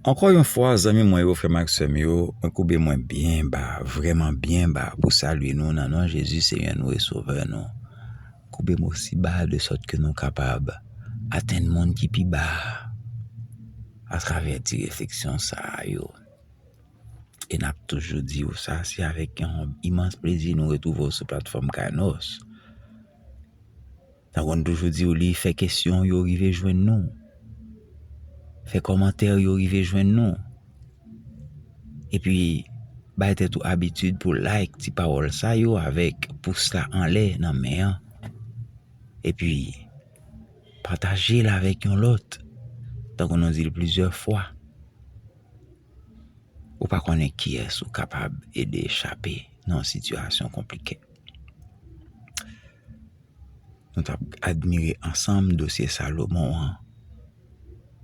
Ankò yon fwa zanmi mwen yo, frè m ak sè m yo, mwen koube mwen byen ba, vrèman byen ba pou salye nou nan non Jezi Senyè nou e Sovè nou. Koube m osi ba de sòt ke nou kapab atenn moun ki pi ba a atravè ti refleksyon sa a yo. E n ap toujou di ou sa, se avèk yon imans plezi nou retwouve w sou platfòm Kainos. Sa konn toujou diw li fè kesyon yo rive jwenn nou. Fè kòmantè yo rive jwenn nou. Epi bay tèt ou abitid pou like ti pawòl sa yo avèk pous la anlè nan men an. Epi pataje l avèk yon lòt. Tankou nou di l plizyè fwa. Ou pa konnen kiyès ou kapab ede chape nan yon sitiyasyon konplike. Nou t ap admire ansanm dosye Salomon an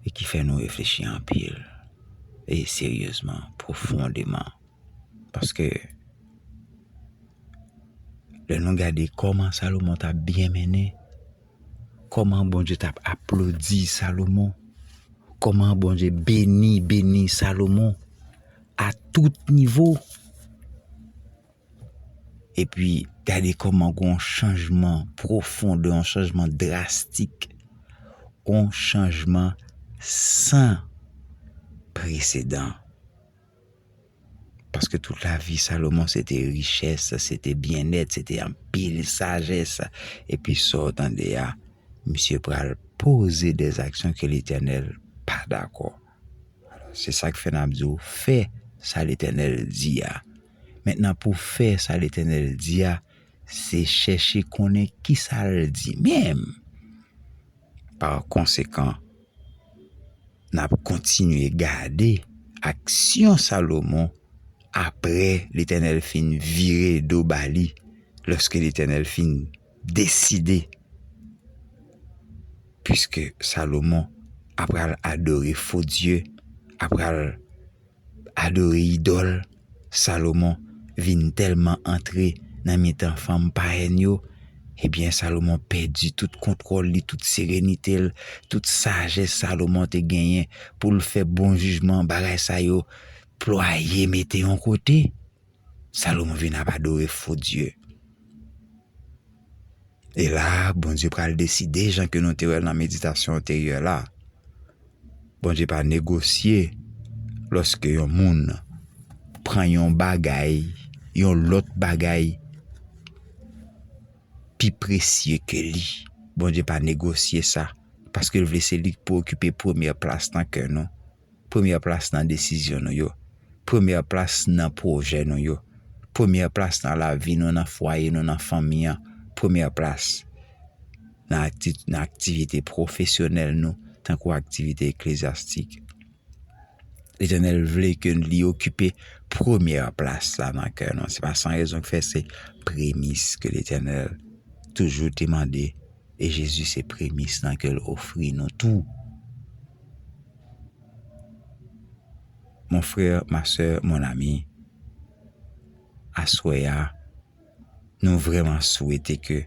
e ki fè nou reflechi anpil e seryezman, pwofondeman. Paske, lè nou gade kòman Salomon t ap byen mennen, kòman Bondye t ap aplodi Salomon, kòman Bondye beni, beni Salomon a tout nivo. Epi gade kòman g'on chanjman pwofon, g'on chanjman drastik, g'on chanjman san presedan. Paske tout lavi Salomon se te richès, se te byennèt, se te anpil sajès. Epi sa w tande a, misye pral poze dè zaksyon ke Letènèl pa dakò. Se sa k fè n'ap di w, fè sa Letènèl di a. Mentnan pou w fè sa Letènèl di a, se chèche konnen ki sa l di menm. Pa konsekan, n ap kontinye gade aksyon Salomon apre Letènèl fin vire do ba li, lòske Letènèl fin deside, piske Salomon apral adore fo dye, apral. Adore idòl, Salomon vin tèlman antre nan mitan fanm payèn yo, ebyen Salomon pèdi tout kontwòl li, tout serenite l, tout sajès Salomon te genyen pou l fè bon jijman, bagay sa yo plwaye mete yon kote. Salomon vin ap adore fo dye. E la, Bondye pral deside, jan ke nou te wè l nan meditasyon anteryè la, Bondye pa negosye lòske yon moun pran yon bagay, yon lòt bagay pi presye ke li. Bondye pa negosye sa, paske l vle se li ki pou okipe premyè plas nan kè nou. premyè plas nan desizyon nou yo, premyè plas nan pwojè nou yo, premyè plas nan lavi nou, nan fwaye nou, nan fanmi an, premyè plas nan aktivite pwofesyonèl nou tankou aktivite eklezyastik. Letènèl vle ke li okipe premyè plas la nan kè nou. Se pa san rezon ki fè se premis ke Letènèl toujou te mande. e Jezi se premis nan ke l ofri nou tou. Mon frè, ma sè, mon ami, aswè a, nou vreman swete ke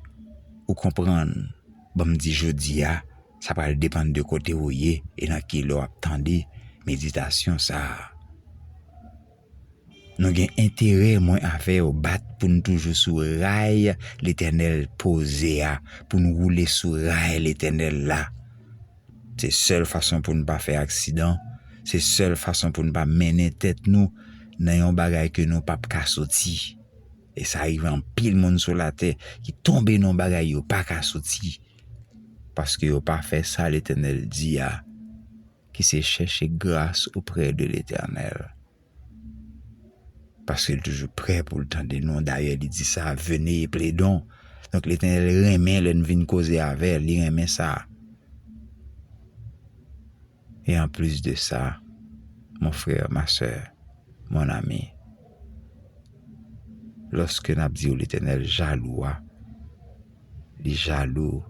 ou konprann, banm di jodi a, sa pral depann de kote ou ye e nan ki lè w ap tande meditasyon sa a. Nou gen enterè mwen avèw bat poun toujou sou ray letènèl poze a poun woule sou ray letènèl la se sèl fason poun pa fè aksidan se sèl fason poun pa mennen tèt nou nan yon bagay ke nou pap ka soti e sa rive anpil moun sou latè ki tonbe nan bagay yo paka soti paske yo pa fè sa letènèl di a. ki se chèche gras oprè de Letènèl. Paske li toujou prè pou l tande nou, dayè li di sa, vene e pledon. Donk Letènèl renmen lè n vin koze avè l, li renmen sa. E an plis de sa, mon frè, ma sè, mon ami, lòske n ap di yo Letènèl jalou a, li jalou.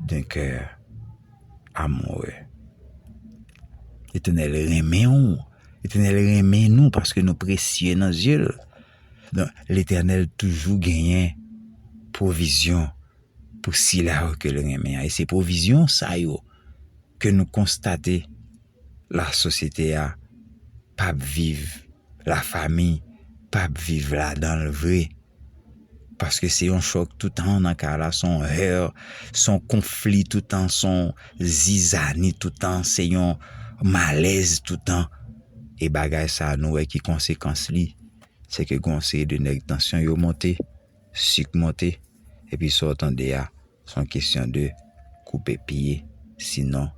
D'un cœur amoureux. L'éternel renmen ou. L'éternel renmen nou paske nou presye nan zye l. Don l'éternel toujou genyen pwovizyon pou sila yo ke l renmen an. E se pwovizyon sa yo ke nou konstate. la sosyete a pap viv la fami pap viv la danl vre paske se yon chòk toutan nan ka la son her son konfli toutan son zizani toutan se yon malèz toutan e bagay sa nou wè ki konsekans li se ke gonseye de nèg tansyon yo monte. suk monte epi sa w tande a se yon kesyon de koupe pye sinon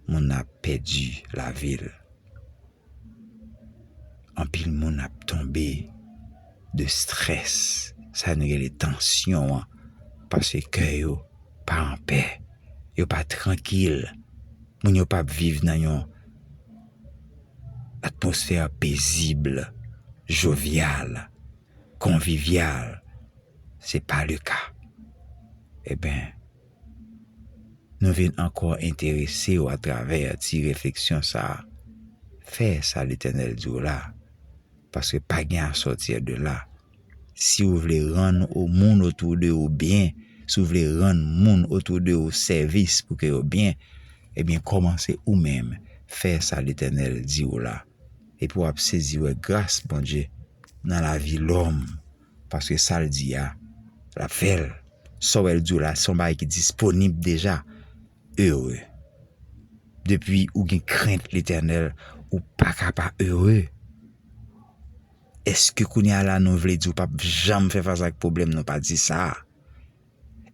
moun nan ap pèdi lavi l anpil moun ap tonbe de strès sa nou rele tansyon an paske kè yo pa anpè yo pa trankil moun yo pap viv nan yon atmosfè pezib jovial. konvivyal se pa le ka e ben nou vin ankò enterese ou atravè ti refleksyon sa fè sa Letènèl di w la paske pa gen a sòti de la si ou vle rann ou moun otou de ou byen si ou vle rann moun otou de ou sèvis pou ke yo byen e byen kòmanse ou menm fè sa Letènèl di w la. epi wap sezi wè gras Bondye nan lavi lòm paske sal di a lap fèl sa wèl diw la se yon bagay ki disponib deja heureux depi ou gen krent letènèl ou paka pa heureux eske kounya la nou vle di ou pap janm fè fas ak pwoblèm non pa di sa.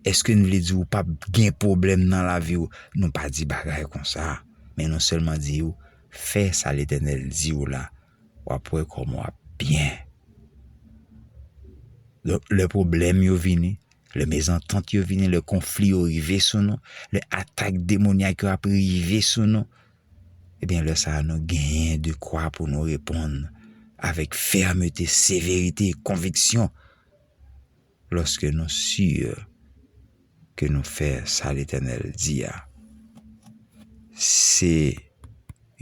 Eske n vle di ou pap gen pwoblèm nan lavi ou? Nou pa di bagay konsa. Men nou sèlman di ou, fè sa Letènèl di ou la, w ap wè kòman w ap byen. Donk, lè pwoblèm yo vini, lè mezantant yo vini, lè konfli yo rive sou nou, lè atak demonyak yo ap rive sou nou, ebyen lè sa a nou genyen de kwa pou nou reponn avèk fèmete, severite, konviksyon. lòske nou sur ke nou fè sa Letènèl di a. Se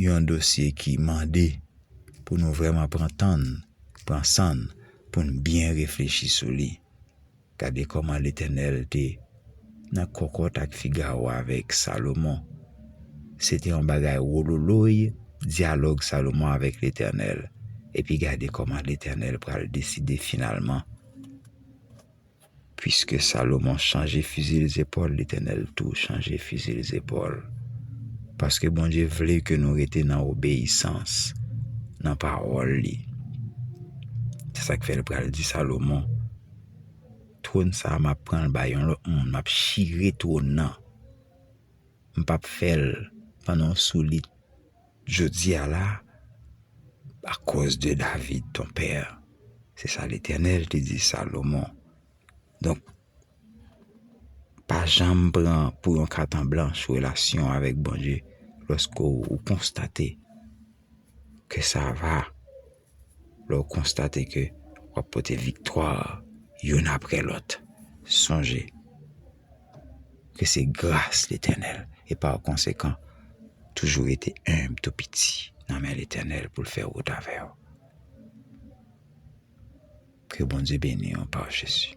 yon dosye ki mande pou nou vreman pran tan n, pran san n, pou n byen reflechi sou li. Gade kòman Letènèl te nan kòkòt ak Figaro avèk Salomon. Se te yon bagay wololoy, dyalòg Salomon avèk Letènèl. Epi gade kòman Letènèl pral deside finalman. Piske Salomon chanje fizil zepòl, Letènèl tou chanje fizil zepòl. Paske Bondye vle ke nou rete nan obeyisans, nan pawòl li. Se sa k fè l pral di Salomon. Twòn sa map pranl bay yon lòt moun map chire twòn nan m pap fèl pandan w sou li jodia la akòz de David ton pè se sa letènèl te di Salomon donk pa janm pran pou yon kat an blanch relasyon w avèk Bondye lòske w konstate ke sa va Lè w konstate ke w ap pote viktwa youn apre lòt, sonje ke se gras Letènèl e pa konsekan toujou rete enb tou piti nan men Letènèl pou l fè wout avè w. Ke Bondye beni w pa Jezi.